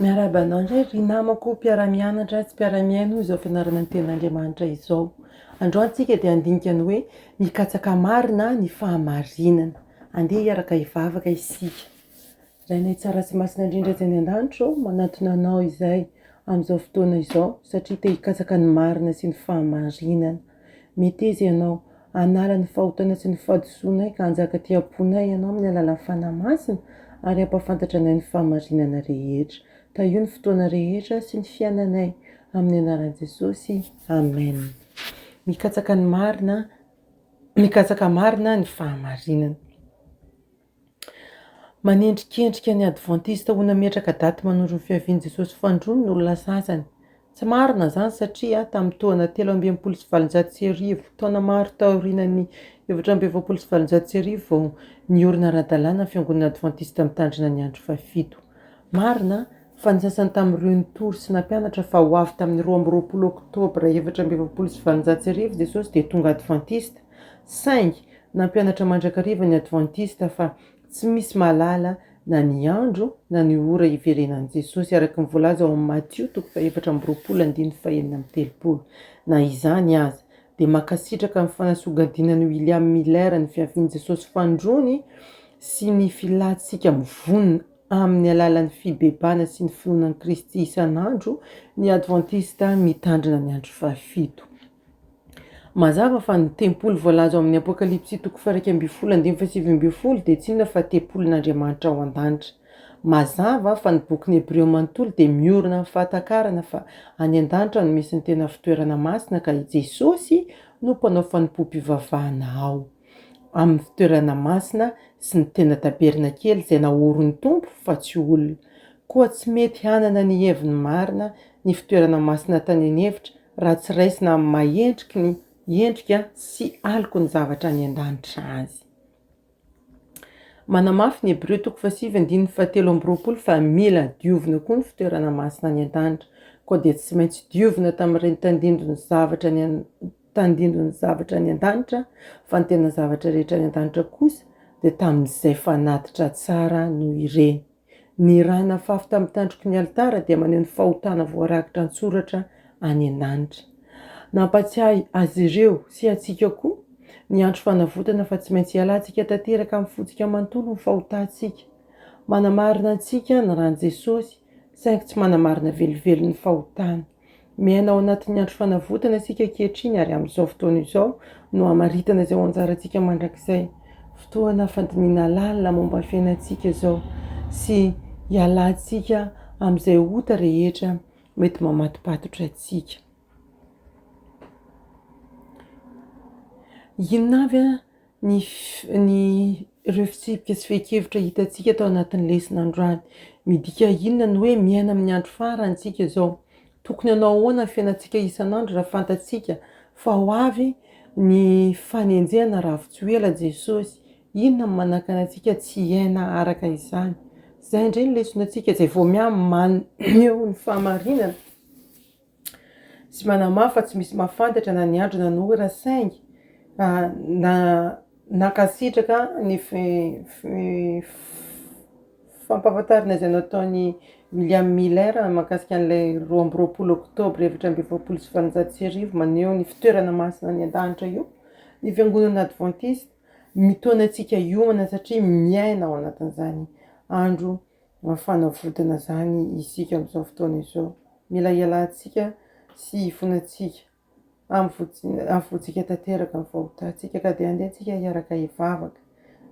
Miarahaba anao indray ry namako mpiara-mianatra sy mpiara-mihaino izao fianarana ny Tenin'Andriamanitra izao. Androany isika dia handinika ny hoe mikatsaka marina ny fahamarinana. Andeha hiaraka hivavaka isika. Rainay tsara sy masina indrindra etsy any an-danitra ô, manantona Anao izahay amin'izao fotoana izao satria te hikatsaka ny marina sy ny fahamarinana. Meteza ianao hanala ny fahotana sy ny fahadisoanay ka hanjaka aty am-ponay ianao amin'ny alalan'ny Fanahy Masina ary hampahafantatra anay ny fahamarinana rehetra. Tahio ny fotoana rehetra sy ny fiainanay. Amin'ny anaran'i Jesosy. Amen. Mikatsaka ny marina, mikatsaka marina ny fahamarinana. Manendrikendrika ny Advantista ho nametraka daty manondro ny fiavian'i Jesosy Fandroany no olona sasany. Tsy marina izany satria tamin'ny tohana telo amby enimpolo sy valonjato sy arivo, taona maro taorianan'ny efatra amby efapolo sy valonjato sy arivo, vao niorina ara-dalàna ny Fiangonana Advantista Mitandrina ny Andro Fahafito. Marina fa ny sasany tamin'ireo nitory sy nampianatra fa ho avy tamin'ny roa amby roapolo Oktobra efatra amby efapolo sy valonjato sy arivo Jesosy dia tonga Advantista, Saingy nampianatra mandrakariva ny Advantista fa tsy misy mahalala na ny andro na ny ora hiverenan'i Jesosy, araka ny voalaza ao amin'ny Matio toko fahefatra amby roapolo andininy fahenina amby telopolo. Na izany aza, dia mankasitraka ny fanasogadinan'i William Miller ny fiavian'i Jesosy Fandroany sy ny filantsika mivonona amin'ny alalan'ny fibebahana sy ny finoana an'i Kristy isan'andro ny Advantista Mitandrina ny Andro Fahafito. Mazava fa ny tempoly voalaza ao amin'ny Apokalypsy toko fairaika ambin'ny folo andininy fahasivy ambin'ny folo dia tsy inona fa tempolin'Andriamanitra ao an-danitra. Mazava fa ny bokin'ny Hebreo manontolo dia miorina amin'ny fahatakarana fa any an-danitra no misy ny tena fitoerana masina ka i Jesosy no mpanao fanompoam-pivavahana ao amin'ny fitoerana masina sy ny tena tabernakely izay naorin'ny Tompo fa tsy olona. Koa tsy mety hanana ny heviny marina ny fitoerana masina tany an'efitra raha tsy raisina amin'ny maha endriky ny endrika sy aloky ny zavatra any an-danitra azy. Manamafy ny Hebreo toko fahasivy andininy fahatelo amby roapolo fa mila diovina koa ny fitoerana masina any an-danitra, koa dia tsy maintsy diovina tamin'ireny tandindon'ny zavatra any an tandindon'ny zavatra any an-danitra fa ny tena zavatra rehetra any an-danitra kosa dia tamin'izay fanatitra tsara noho ireny. Ny ra nafafy tamin'ny tandroky ny alitara dia maneho ny fahotana voarakitra an-tsoratra any an-danitra. Nampatsiahy azy ireo, sy antsika koa, ny andro fanavotana fa tsy maintsy hialantsika tanteraka amin'ny fontsika manontolo ny fahotantsika. Manamarina antsika ny ran'i Jesosy, saingy tsy manamarina velively ny fahotany. Miaina ao anatin'ny andro fanavotana isika ankehitriny ary amin'izao fotoana izao no hamaritana izay ho anjarantsika mandrakizay. Fotoana fandinihana lalina momba ny fiainantsika izao sy hialantsika amin'izay ota rehetra mety mamatopatotra antsika. Inona avy ny ny ireo fitsipika sy fehin-kevitra hitantsika tao anatin'ny lesona androany. Midika inona ny hoe miaina amin'ny andro farany isika izao? Tokony hanao ahoana ny fiainantsika isan'andro raha fantatsika fa ho avy ny fanenjehana raha avy tsy ho ela Jesosy? Inona no manakana antsika tsy hiaina araka izany? Izay indray ny lesonantsika izay vao miha-maneho ny fahamarinana. Tsy manamafy fa tsy misy mahafantatra na ny andro na ny ora saingy nankasitraka ny fampahafantarana izay nataon'i William Miller mahakasika an'ilay roa amby roapolo oktobra efatra amby efapolo sy valonjato sy arivo maneho ny fitoerana masina any an-danitra io ny fiangonana advantista. Mitaona antsika hiomana satria miaina ao anatin'izany andro Mba fanavotana izany isika amin'izao fotoana izao. Mila hialantsika sy hifonantsika. Havoantsika tanteraka ny fahotantsika ka dia andeha tsika hiaraka hivavaka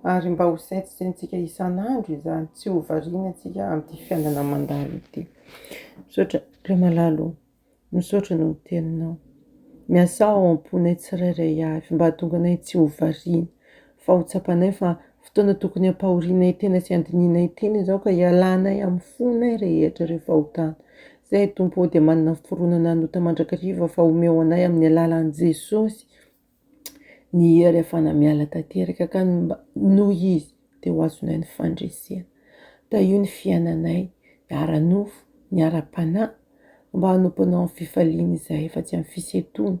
ary mba ho saintsaintsika isan'andro izany, tsy ho variana tsika amin'ity fiainana mandalo ity. Misaotra ry malala ô. Misaotra noho ny teninao. Miasà ao am-ponay tsirairay avy mba hahatonga anay tsy ho variana fa ho tsapanay fa fotoana tokony hampahorianay tena sy handinihinay tena izao ka hialanay amin'ny fonay rehetra ireo fahotana. Izahay Tompo ô dia manana fironana hanota mandrakariva fa omeo anay amin'ny alalan'i Jesosy. Ny hery afahana miala tanteraka ka ny mba noho izy dia ho azonay ny fandresena. Tahio ny fiainanay, ny ara-nofo, ny ara-panahy, mba hanompoanao amin'ny fifaliana izahay fa tsy amin'ny fisentoana,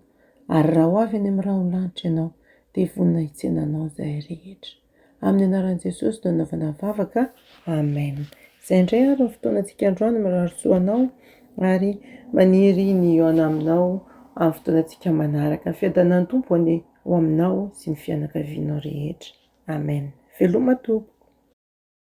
ary raha ho avy any amin'ny raholahintra ianao dia vonona hitsena anao izahay rehetra. Amin'ny anaran'i Jesosy no anaovana vavaka, Amen. Izay indray ary ny fotoanantsika androany, mirary soa anao ary maniry ny hihaona aminao amin'ny fotoanantsika manaraka. Ny fiadanan'ny Tompo anie ho aminao sy ny fianakavianao rehetra. Amen. Veloma tompoko.